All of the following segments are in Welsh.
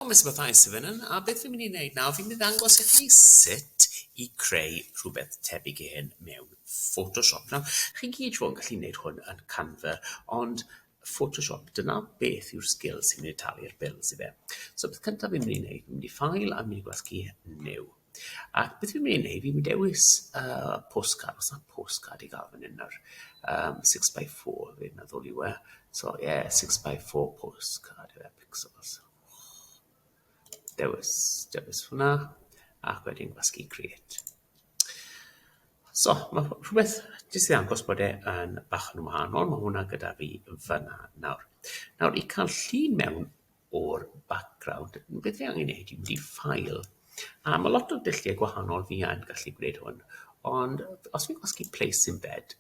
O mae'n sympatheis i Fynnon. A beth fi'n mynd i wneud nawr, fi'n mynd i ddangos i chi sut i creu rhywbeth tebyg i hyn mewn Photoshop. Nawr, chi gyd siŵr yn gallu wneud hwn yn Canva, ond Photoshop, dyna beth yw'r sgil sy'n mynd i talu'r bills i fe. So beth cyntaf fi'n mynd i wneud, fi'n mynd i File a mynd i Gwasgu New. Ac beth fi'n mynd i wneud, fi'n mynd i dewis uh, postcard, os na postcard i gael fan hyn nawr. Um, 6x4, fi'n meddwl yw e. So, ie, yeah, 6x4 postcard yw e, pixels. Dewis, dewis hwnna, ac wedyn gwasgu create. So, mae rhywbeth jyst i ddangos bod e yn bach yn wahanol. Mae hwnna gyda fi fyna nawr. Nawr, i cael llun mewn o'r background, beth fi angen neud yw file, a ma' lot o dulliau gwahanol fi yn gallu gwneud hwn, ond os fi'n gwasgu place embed,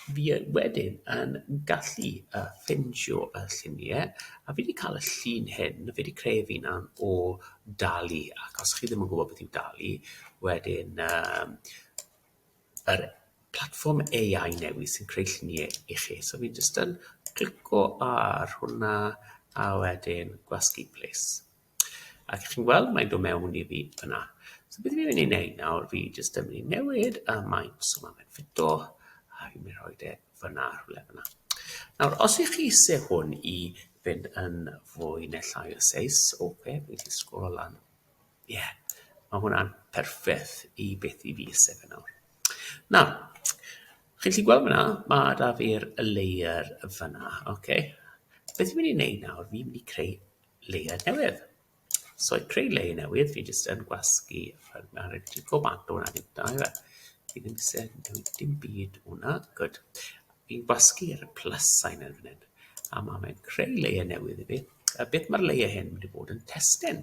fi yy wedyn yn gallu yy ffindio y llunie, a fi 'di ca'l y llun hyn, fi 'di creu fy unan o dali, ac os chi ddim yn gwbod beth yw dali, wedyn yym yr platfform AI newydd sy'n creu lluniau i chi. So fi'n jyst yn clico ar hwnna a wedyn gwasgu plis. Ac chi'n gweld mae'n dod mewn i fi yna. So beth fi'n mynd i wneud nawr, fi jyst yn mynd i newid y maint so mae'n mynd ffito a fi'n mynd i roi e fyna rhywle fyna. Nawr, os ych chi eisiau hwn i fynd yn fwy neu llai o seis, oce, okay, fi'n sgwrol lan Ie, mae hwnna'n perffeth i beth i fi sef yn awr. Nawr, chi'n gallu gweld fyna, mae da fi'r layer fyna, oce? Okay? Beth fi'n mynd i wneud nawr, fi'n mynd i creu layer newydd. So, i creu layer newydd, fi jyst yn gwasgu ar y dico bant o'na ddim da, efe. Fi ddim sy'n newid dim byd o'na, good. Fi'n gwasgu ar y plus sign yn fan hyn, a mae'n creu layer newydd i fi. A beth mae'r layer hyn wedi bod yn testyn?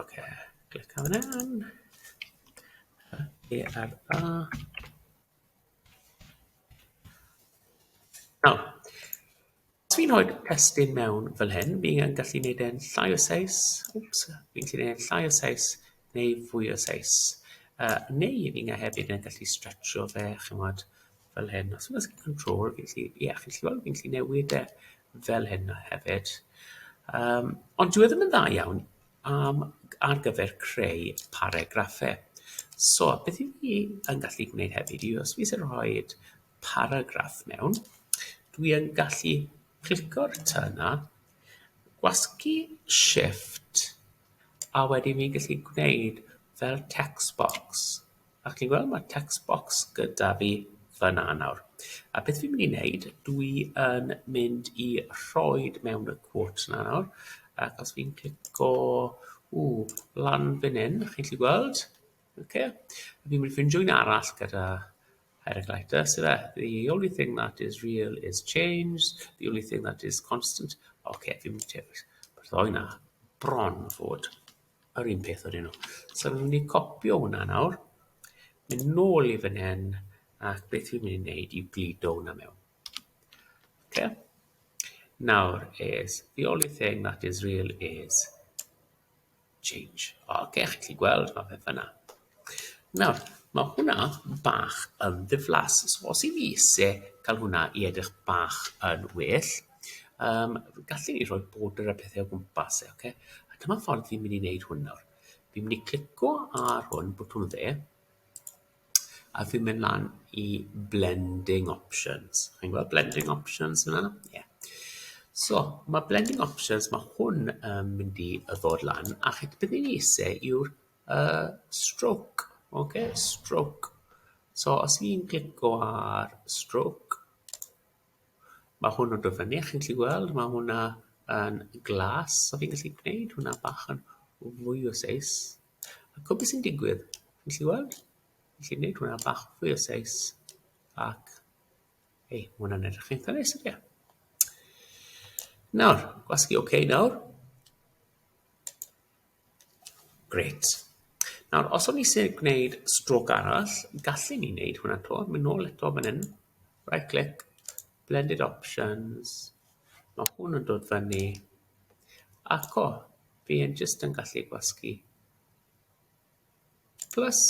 Ocê, clicio fan hyn. Yy ERA. Nawr, os fi'n rhoi'r testun mewn fel hyn, fi yn gallu gwneud e'n llai o seis, wps, fi'n gallu gwneud e'n llai o seis neu fwy o seis. Uh, neu fi'n hefyd yn gallu stretcho fe, chymod, fel hyn os oes gen i control fi'n gallu ie chi'n gallu weld fi'n gallu newid e fel hyn a hefyd yym ond dyw e ddim yn dda iawn am ar gyfer creu paregraffe so beth yw fi yn gallu gwneud hefyd yw os fi isie rhoid paragraff mewn dwi yn gallu clico'r tŷ yna gwasgu shifft a wedyn fi'n gallu gwneud fel text box. A chi'n gweld ma' text box gyda fi fyna nawr. A beth fi'n mynd i wneud, dwi yn mynd i rhoi mewn y quote 'na nawr, ac os fi'n clico, ww, lan fan 'yn, chi'n gallu gweld, ocê, fi'n mynd i ffindio un arall gyda highlighter, ife, the only thing that is real is change, the only thing that is constant, ocê, fi'n mynd i dewis, ma'r ddou 'na bron fod. yr un peth wedyn nhw. So fi'n mynd i copio hwnna nawr, mynd nôl i fan hyn, ac beth fi'n mynd i wneud yw glido hwnna mewn. Okay. Nawr is, the only thing that is real is change. O, okay, chi'n gallu gweld, mae fe fyna. Nawr, ma' hwnna bach yn ddiflas, so os i fi isie ca'l hwnna i edrych bach yn well yym gallen ni rhoi border a pethe o gwmpas e oce? A dyma ffordd fi'n mynd i neud hwn nawr. Fi'n mynd i clico ar hwn, botwm dde, a fi'n mynd lan i blending options. Chi'n gweld blending options yna? Ie. Yeah. So, ma' blending options, ma' hwn yn mynd i yy ddod lan, a chi- be' fi'n isie yw'r yy stroke ok stroke so os i'n clico ar stroke ma' hwn yn dod fyny chi'n gallu weld ma' hwnna yn glas so fi'n gallu gwneud hwnna bach yn fwy o seis a gwbo be' sy'n digwydd chi'n gallu weld felly neud hwnna bach fwy o seis ac ei ma' hwnna'n edrych eitha neis ydi e? Nawr gwasgu ok nawr. Grêt. Nawr, os o'n ni eisiau gwneud stroc arall, gallen ni wneud hwnna to. Mynd nôl eto fan hyn. Right click. Blended options. Mae hwn yn dod fyny. Ac o, fi yn just yn gallu gwasgu. Plus.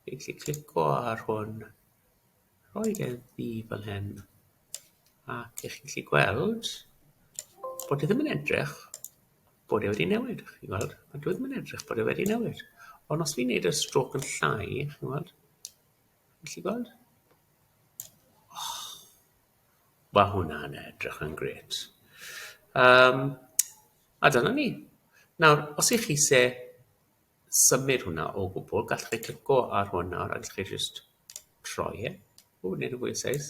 Fi'n gallu clico ar hwn. rhoi e ddi fel hyn ac ych chi'n gallu gweld bod e ddim yn edrych bod e wedi newid, chi'n gweld? Mae dwi ddim yn edrych bod e wedi newid. Ond os fi'n neud y strôc yn llai, chi'n gweld? Felly gweld? Oh, Mae hwnna'n edrych yn gret. Um, a dyna ni. Nawr, os ych chi se symud hwnna o gwbl, gallwch chi clico ar hwn nawr a gallwch chi just rhoi e o wneud yn fwy o seis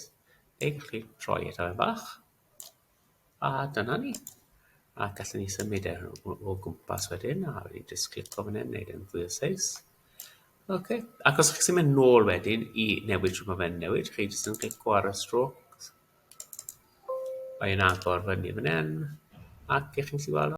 neu gallwch chi rhoi e dipyn bach a dyna ni a gallwn ni symud e o, o gwmpas wedyn a wedyn jyst clico fan hyn wneud yn fwy o seis Ok, ac os chi'n mynd nôl wedyn i newid rhywbeth fe'n newid, chi jyst yn clico ar y strôc, mae'n agor fyny fan hyn, ac ych chi'n gallu gweld